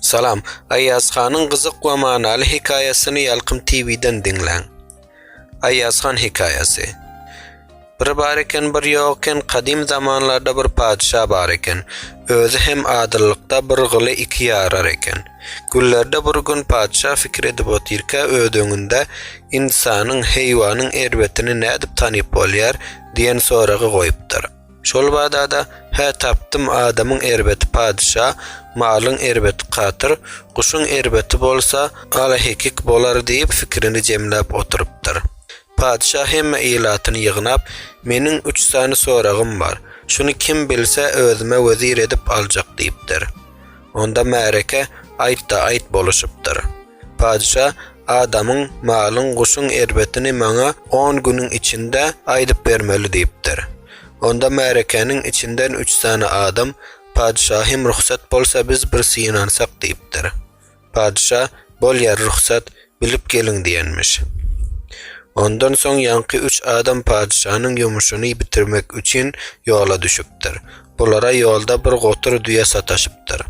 Salam, Aýaz hanyň gyzyk we manaly hekaýasyny Ýalkym TV-den diňläň. Aýaz han hekaýasy. Bir bar eken, bir ýok eken, kadym zamanlarda bir patyşa bar eken. Özi hem adyllykda bir gyly iki ýarar eken. Günlerde bir gün patyşa fikir edip otyrka öz öňünde Ynsanyň, heýwanyň erbetini nädip tanyp bolýar? diýen soragy goýupdyr. Şol bada-da, Hä, tapdym, adamyň erbeti patyşa, malyň erbeti katyr, guşuň erbeti bolsa ala-hekik bolar diýip, pikirini jemläp oturypdyr. Patyşa hemme ilatyny ýygnap, Meniň üç sany soragym bar. Şuny kim bilse, özüme wezir edip aljak diýipdir. Onda märeke, Aýt-da, aýt boluşypdyr. Patyşa, Adamyň, malyň, guşuň erbetini maňa on günüň içinde aýdyp bermeli diýipdir. Onda märekäniň içinden üç sany adam, Patyşahym, rugsat bolsa biz bir synansak diýipdir. Patyşa, Bolýar, rugsat, bilip geliň diýenmiş. Ondan soň ýaňky üç adam patyşanyň ýumuşyny bitirmek üçin ýola düşüpdir. Bulara ýolda bir gotur düýe sataşypdyr.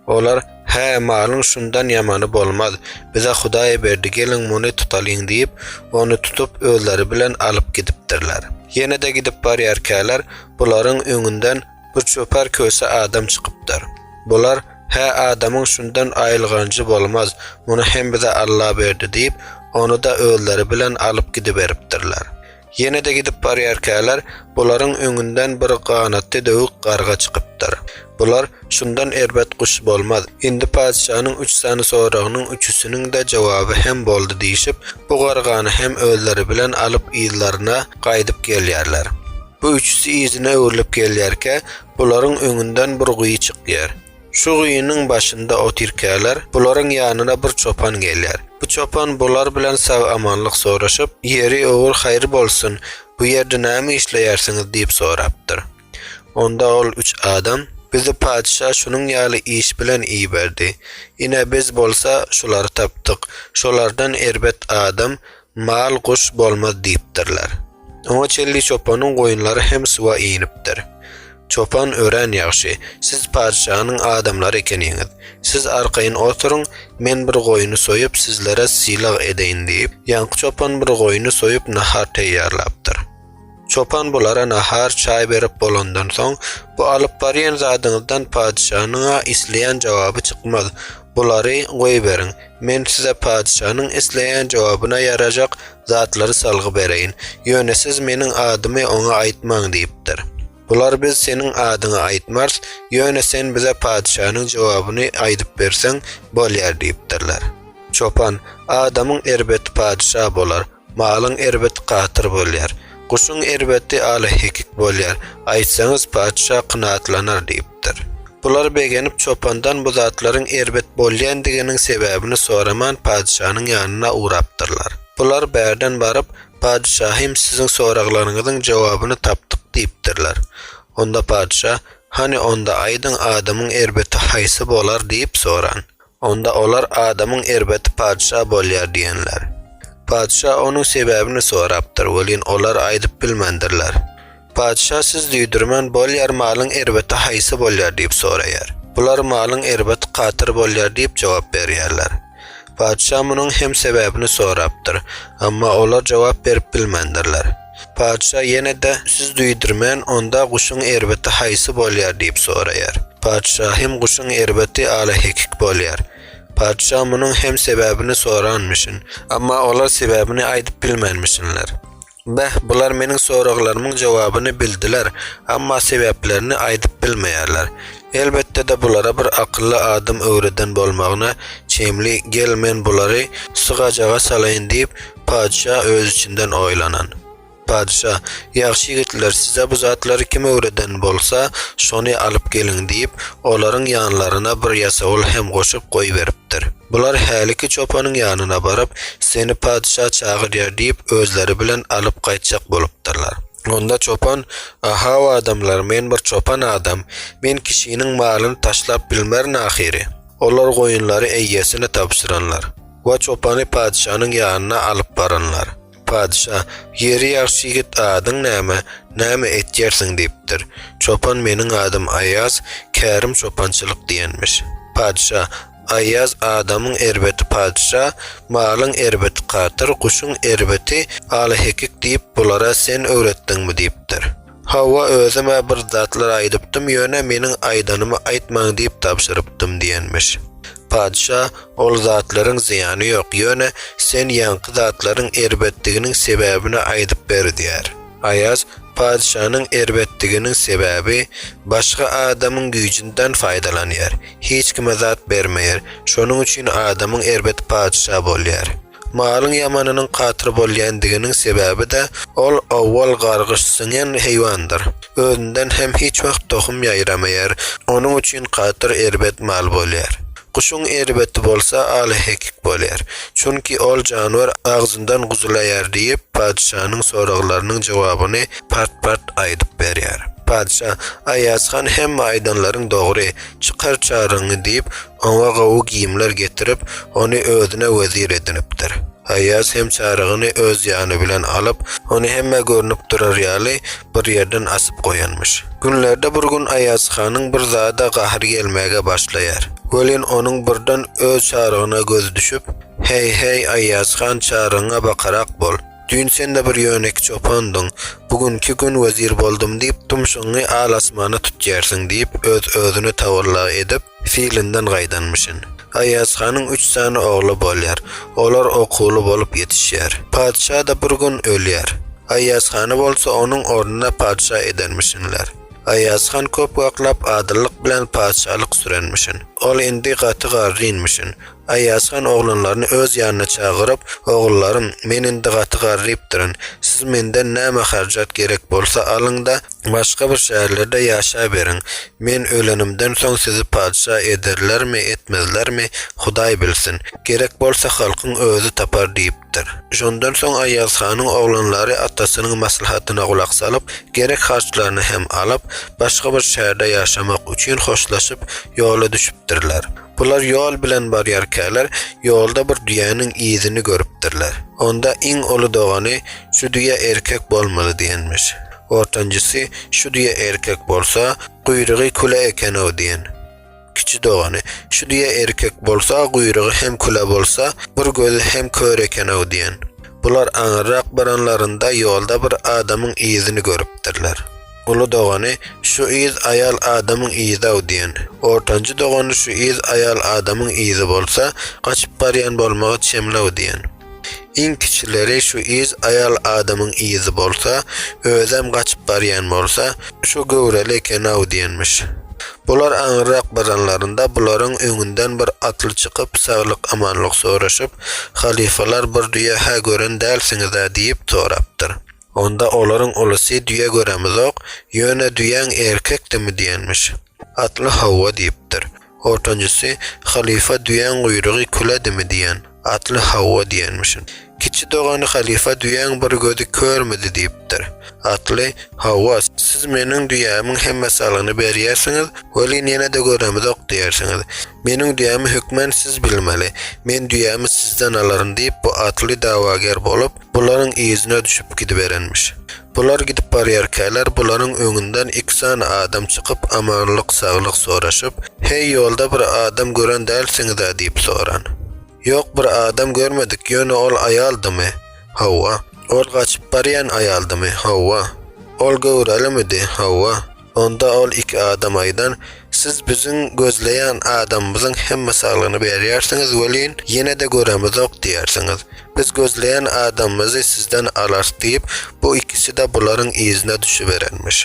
Olar, Hä, malyň şundan ýamany bolmaz. Bize Hudaý berdi, geliň, muny tutalyň diýip, ony tutup, özleri bilen alyp gidipdirler. Ýene-de gidip barýarkäler, bularyň öňünden bir çopar köse adam çykypdyr. Bular, Hä, adamyň şundan aýylganjy bolmaz, muny hem bize Alla berdi diýip, ony-da özleri bilen alyp gidiberipdirler. Ýene-de gidip barýarkäler, bularyň öňünden bir ganatly döwük garga çykypdyr. Bular, Şundan erbet guş bolmaz. Indi patyşanyň üç sany soragynyň üçüsiniň-de jogaby hem boldy diýşip, bu gargany hem özleri bilen alyp yzlaryna gaýdyp gelýärler. Bu üçüsi yzyna öwrülip gelýärkä, bularyň öňünden bir guýy çykýar. Şu guýynyň başynda otyrkäler, bularyň ýanyna bir çopan gelýär. Bu çopan bular bilen sag-amanlyk soraşyp, Ýeri, ogur haýry bolsun, bu ýerde näme işleýärsiňiz? diýip sorapdyr. Onda ol üç adam, Bizi patyşa şunuň ýaly iş bilen iberdi. Ine, biz bolsa şulary tapdyk. Şolardan erbet adam, Mal guş bolmaz diýipdirler. Oňa çenli çopanyň goýunlary hem suwa inipdir. Çopan, Örän ýagşy. Siz patyşanyň adamlary ekeniňiz. Siz arkaýyn oturyň, men bir goýny soýup, sizlere sylag edeýin diýip, ýaňky çopan bir goýny soýup nahar teýýarlapdyr. Çopan bulara nahar, çaý berip bolandan soň, Bu alyp barýan zadyňyzdan padyşanyň-a isleýän jogaby çykmaz. Bulary goýberiň. Men size padyşanyň isleýän jogabyna ýarajak zatlary salgy bereýin. Ýöne siz meniň adymy oňa aýtmaň diýipdir. Bular Biz seniň adyňy aýtmarys, ýöne sen bize padyşanyň jogabyny aýdyp berseň bolýar diýipdirler. Çopan, Adamyň erbeti padyşa bolar. Malyň erbet gatyr bolýar. Guşuň erbeti ala-hekik bolýar. Aýtsaňyz, patyşa kynatlanar, diýipdir. Bular begenip, çopandan bu zatlaryň erbet bolýandiginiň sebäbini soraman patyşanyň ýanyna ugrapdyrlar. Bular bärden baryp, Patyşahym, siziň soraglaryňyzyň jogabyny tapdyk, diýipdirler. Onda patyşa, Hany, onda aýdyň, adamyň erbeti haýsy bolar? diýip soran. Onda olar adamyň erbeti patyşa bolýar diýenler. Patyşa onuň sebäbini sorapdyr, welin olar aýdyp bilmändirler. Patyşa siz duýdurman bolýar malyň erbeti haýsy bolýar diýip soraýar. Bular malyň erbeti katyr bolýar diýip jogap berýärler. Patyşa munuň hem sebäbini sorapdyr, emma olar jogap berip bilmändirler. Patyşa ýene-de, Siz duýdurman, onda guşuň erbeti haýsy bolýar? diýip soraýar. Patyşa hem, Guşuň erbeti alahekik bolýar. Patyşa munuň hem sebäbini soranmyşyn. Emma olar sebäbini aýdyp bilmänmişinler. Beh, bular meniň soraglarymyň jogabyny bildiler, emma sebäplerini aýdyp bilmeýärler. Elbetde-de bulara bir akylly adam öwreden bolmagyna çemli, gel men bulary sygajyga salaýyn diýip, Patyşa öz içinden oýlanan. Patyşa, Ýagşy ýigitler, size bu zatlary kim öwreden bolsa, şony alyp geliň diýip, olaryň ýanlaryna bir ýasawul hem goşup goýberipdir. Bular häliki çopanyň ýanyna baryp, Seni patyşa çagyrýar diýip, özleri bilen alyp gaýtjak bolupdyrlar. Onda çopan, A-haw adamlar, men bir çopan adam, men kişiniň malyny taşlap bilmerin ahyry. Olar goýunlary eýesine tabşyranlar. We çopany patyşanyň ýanyna alyp baranlar. Patyşa, Ýeri ýagşy ýigit, adyň näme, näme etýärsiň? diýipdir. Çopan, Meniň adym Aýaz, kärim çopançylyk diýenmiş. Patyşa, Aýaz, adamyň erbeti patyşa, malyň erbeti katyr, guşuň erbeti alahekik diýip, bulara sen öwretdiňmi? diýipdir. Hawa, özüm-ä bir zatlar aýdypdym, ýöne meniň aýdanymy aýtmaň diýip tabşyrypdym diýenmiş. Patyşa, Ol zatlaryň zyýany ýok, ýöne sen ýaňky zatlaryň erbetdiginiň sebäbini aýdyp ber diýýär. Aýaz, Patyşanyň erbetdiginiň sebäbi, başga adamyň güýjünden faýdalanýar, hiç kime zat bermeýär, şonuň üçin adamyň erbeti patyşa bolýar. Malyň ýamanynyň katyr bolýandiginiň sebäbi-de, ol owal gargyş siňen heýwandyr. Özünden hem hiç wagt tohum ýaýramaýar, onuň üçin katyr erbet mal bolýar. Guşuň erbeti bolsa alahekik bolýar. Çünki ol janwer agzyndan guzulaýar diýip, patyşanyň soraglarynyň jogabyny part-part aýdyp berýär. Patyşa, Aýazhan hemme aýdanlaryň dogry, çykar çaryňy diýip, Oňa gowy geýimler getirip, ony özüne wezir edinipdir. Aýaz hem Çarygyny öz ýany bilen alyp, ony hemmä görnüp durar ýaly, bir ýerden asyp goýanmyş. Günlerde bir gün Aýaz hanyň bir zada gahry gelmäge başlaýar. Welin, onuň birden öz Çarygyna gözi düşüp, Heý-heý, Aýaz han, Çarygyňa bakarak bol! Düýn sen-de bir ýönekiý çopandyň, bu günki gün wezir boldum diýip, tumşugyňy al-asmana tutýarsyň diýip, öz-özüne tawalla edip, Filinden gaýdanmyşyn. Aýazhanyň üç sany ogly bolýar. Olar okuwly bolup ýetişýär. Patyşa-da bir gün ölýär. Aýazhany bolsa onuň ornuna patyşa edenmişinler. Aýazhan köp waklap adyllyk bilen patyşalyk sürenmişin. Ol indi gaty garrynmyşyn. Aýasgan oglanlaryny öz ýanyna çagyryp, Ogullarym, men indi gaty garrypdyryn. Siz menden näme harjat gerek bolsa alyň-da, başga bir şäherlerde ýaşaberiň. Men ölenimden soň sizi patyşa ederlermi, etmezlermi, Hudaý bilsin. Gerek bolsa halkyň özi tapar diýipdir. Şondan soň Aýazhanyň oglanlary atasynyň maslahatyna gulak salyp, gerek harçlaryny hem alyp, başga bir şäherde ýaşamak üçin hoşlaşyp, ýola düşüpdirler. Bular ýol bilen barýarkäler, ýolda bir düýäniň yzyny görüpdirler. Onda iň uly dogany, Şu düýe erkek bolmaly diýenmiş. Ortanjysy, Şu düýe erkek bolsa, guýrugy küle eken-ow diýen. Kiçi dogany, Şu düýe erkek bolsa, guýrugy hem küle bolsa, bir gözi hem kör eken-ow diýen. Bular aňyrrak baranlarynda ýolda bir adamyň yzyny görüpdirler. Uly dogany, Şu yz aýal adamyň yzy-aw diýen. Ortanjy dogany, Şu yz aýal adamyň yzy bolsa, gaçyp barýan bolmagy çemli-aw diýen. Iň kiçileri, Şu yz aýal adamyň yzy bolsa, özem gaçyp barýan bolsa, şo göwreli eken-aw diýenmiş. Bular aňyrrak baranlarynda, bularyň öňünden bir atly çykyp, saglyk-amanlyk soraşyp, Halypalar bir düýe-hä gören dälsiňiz-ä diýip sorapdyr. Onda olaryň ulusy düýe göremizok, ýöne düýäň erkekdimi diýenmiş. Atly hawa diýipdir. Ortanjysy, Halypa düýäň guýrugy küledimi diýen. Atly hawa diýenmişin. Kiçi dogany Halypa düýäň bir gözi körmidi diýipdir. Atly, Hawa, siz meniň düýämiň hemme salgyny berýärsiňiz, welin ýene-de göremizok diýersiňiz. Meniň düýämi hökmän siz bilmeli. Men düýämi sizden alaryn diýip bu atly dawager bolup, bularyň yzyna düşüp gidiberenmiş. Bular gidip barýarkäler, bularyň öňünden iki sany adam çykyp, amanlyk-saglyk soraşyp, Heý, ýolda bir adam gören dälsiňiz-ä? diýip soran. Ýok, bir adam görmedik, ýöne ol aýaldymy? Hawa. Ol gaçyp barýan aýaldymy? Hawa. Ol göwrəlimidi? Hawa. Onda ol iki adam aýdan, Siz biziň gözleýän adamymyzyň hemme saglygyny berýärsiňiz welin, ýene-de göremizok diýersiňiz. Biz gözleýän adamymyzy sizden alarys diýip, bu ikisi-de bularyň yzyna düşüberenmiş.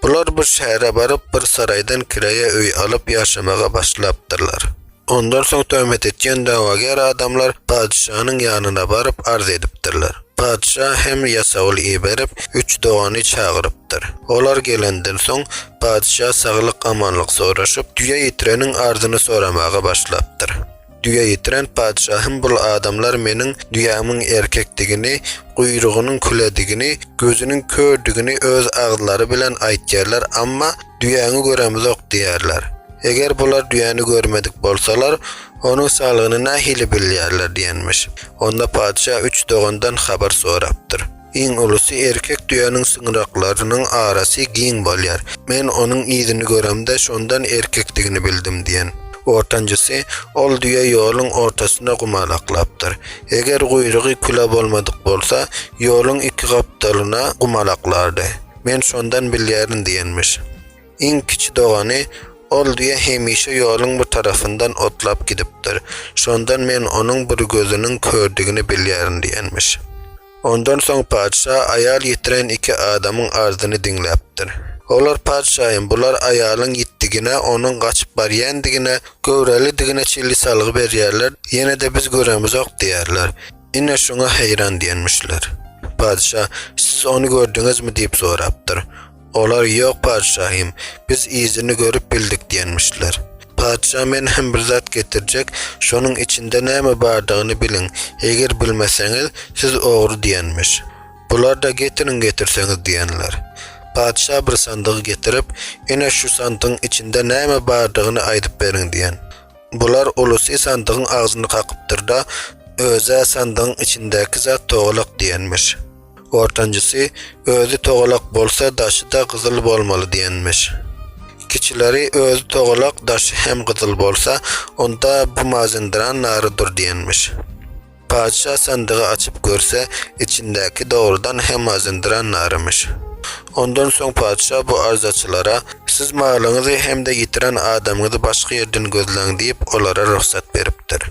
Bular bir şähere baryp, bir saraýdan kireýe öý alyp ýaşamaga başlapdyrlar. Ondan soň töhmet etýän dawager adamlar patyşanyň ýanyna baryp arz edipdirler. Patyşa hem ýasawul iberip, üç dogany çagyrypdyr. Olar gelenden soň, patyşa saglyk-amanlyk soraşyp, düýe ýitireniň arzyny soramaga başlapdyr. Düýe ýitiren, Patyşahym bul adamlar meniň düýämiň erkekdigini, guýrugynyň küledigini, gözüniň kördigini öz agzlary bilen aýtýarlar, amma düýäňi göremizok diýýärler. Eger bular düýäni görmedik bolsalar, onuň salgyny nähili bilýärler diýenmiş. Onda patyşa üç dogandan habar sorapdyr. Iň ulusy, Erkek düýäniň syňraklarynyň arasy giň bolýar. Men onuň yzyny göremde, şondan erkekdigini bildim diýen. Ortanjysy, Ol düýe ýoluň ortasynda gumalaklapdyr. Eger guýrugy küle bolmadyk bolsa, ýoluň iki gapdalyna gumalaklardy. Men şondan bilýärin diýenmiş. Iň kiçi dogany, Ol düýe hemişe ýoluň bu tarapyndan otlap gidipdir. Şondan men onuň bir gözüniň kördigini bilýärin diýenmiş. Ondan soň patyşa aýal ýitiren iki adamyň arzyny diňläpdir. Olar Patyşaýym, bular aýalyň ýitdigine, onuň gaçyp barýändigine, göwrälidigine çenli salgy berýärler, ýene-de biz göremizok diýýärler. Ine, şuňa heýran diýenmişler. Patyşa, Siz ony gördüňizmi? diýip sorapdyr. Olar Ýok, patyşahym, biz yzyny görüp bildik diýenmişler. Patyşa Men hem bir zat getirjek, şonuň içinde näme bardygyny biliň, eger bilmeseňiz, siz ogry diýenmiş. Bular-da Getiriň getirseňiz diýenler. Patyşa bir sandygy getirip, Ine şu sandygyň içinde näme bardygyny aýdyp beriň diýen. Bular ulusy sandygyň agzyny kakypdyr-da, Öz-ä sandygyň içindäki zat togalak diýenmiş. Ortanjysy, özi togalak bolsa, daşy-da gyzyl bolmaly diýenmiş. Kiçileri, özi togalak, daşy hem gyzyl bolsa, onda bu Mazenderan narydyr diýenmiş. Patyşa sandygy açyp görse, içindäki dogrudan hem Mazenderan narymyş. Ondan soň patyşa bu arzaçylara, Siz malyňyzy hem-de ýitiren adamyňyzy başga ýerden gözläň diýip, olara rugsat beripdir.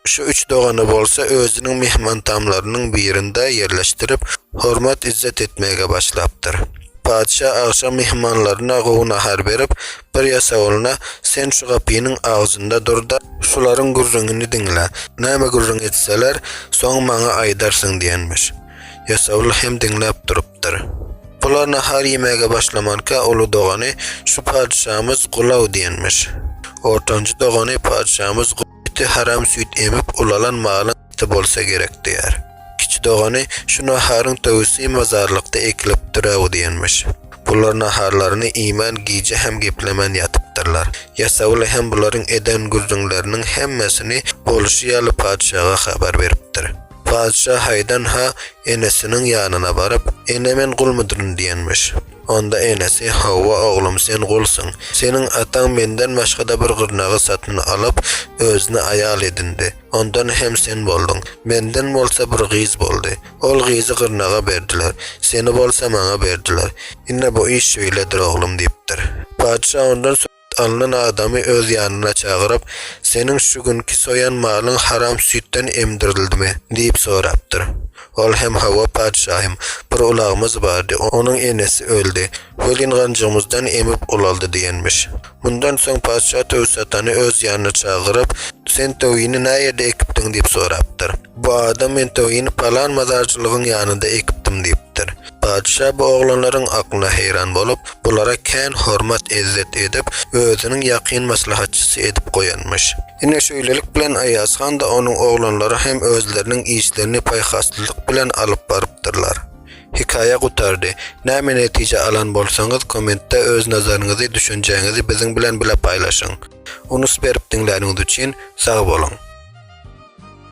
Şu üç dogany bolsa özüniň myhmantamlarynyň birinde ýerleşdirip, hormat-yzzet etmäge başlapdyr. Patyşa agşam myhmanlaryna gowy nahar berip, bir ýasawyna, Sen şu gapynyň agzynda dur-da, şularyň gürrüňini diňle, näme gürrüň etseler, soň maňa aýdarsyň diýenmiş. Ýasawul hem diňläp durupdyr. Bular nahar iýmäge başlamanka, uly dogany, Şu patyşamyz gulaw diýenmiş. Ortanjy dogany, Patyşamyz. Iti haram süýt emip ulalan malyň iti bolsa gerek diýer. Kiçi dogany şu naharyň töwüsi mazarlykda ekilipdir-äw diýenmiş. Bular naharlaryny iýmän gije hem geplemän ýatypdyrlar. Ýasawuly hem bularyň eden gürrüňleriniň hemmesini bolşy ýaly patyşaga habar beripdir. Patyşa haýdan-ha enesiniň ýanyna baryp, Ene men gulmudyryn diýenmiş. Onda enesi, Hawa, oglum sen gulsuň. Seniň ataň menden başga-da bir gyrnagy satyn alyp, özüne aýal edindi. Ondan hem sen bolduň. Menden bolsa bir gyz boldy. Ol gyzy gyrnaga berdiler. Seni bolsa maňa berdiler. Ine bu iş şeýledir oglum diýipdir. Patyşa ondan. alnan adamy öz ýanyna çagyryp, Seniň şu günki soýan malyň haram süýtden emdirdildimi? diýip sorapdyr. Ol hem, Hawa, patyşahym, bir ulagymyz bardy, onuň enesi öldi, welin ganjygymyzdan emip ulaldy diýenmiş. Mundan soň patyşa töwi satany öz ýanyna çagyryp, Sen töwini näýerde ekipdiň? diýip sorapdyr. Bu adam, Men töwini palan mazarçylygyň ýanynda ekipdim diýipdir. Patyşa bu oglanlaryň aklyna heýran bolup, bulara kän hormat-ezzet edip, özüniň ýakyn maslahatçysy edip goýanmyş. Ine, şeýlelik bilen Aýaz han-da, onuň oglanlary hem özleriniň işlerini paýhaslylyk bilen alyp barypdyrlar. Hekaýa gutardy. Näme netije alan bolsaňyz, kommentde öz nazaryňyzy, düşünjäňizi biziň bilen bile paýlaşyň. Unus berip diňläniňiz üçin, sag boluň!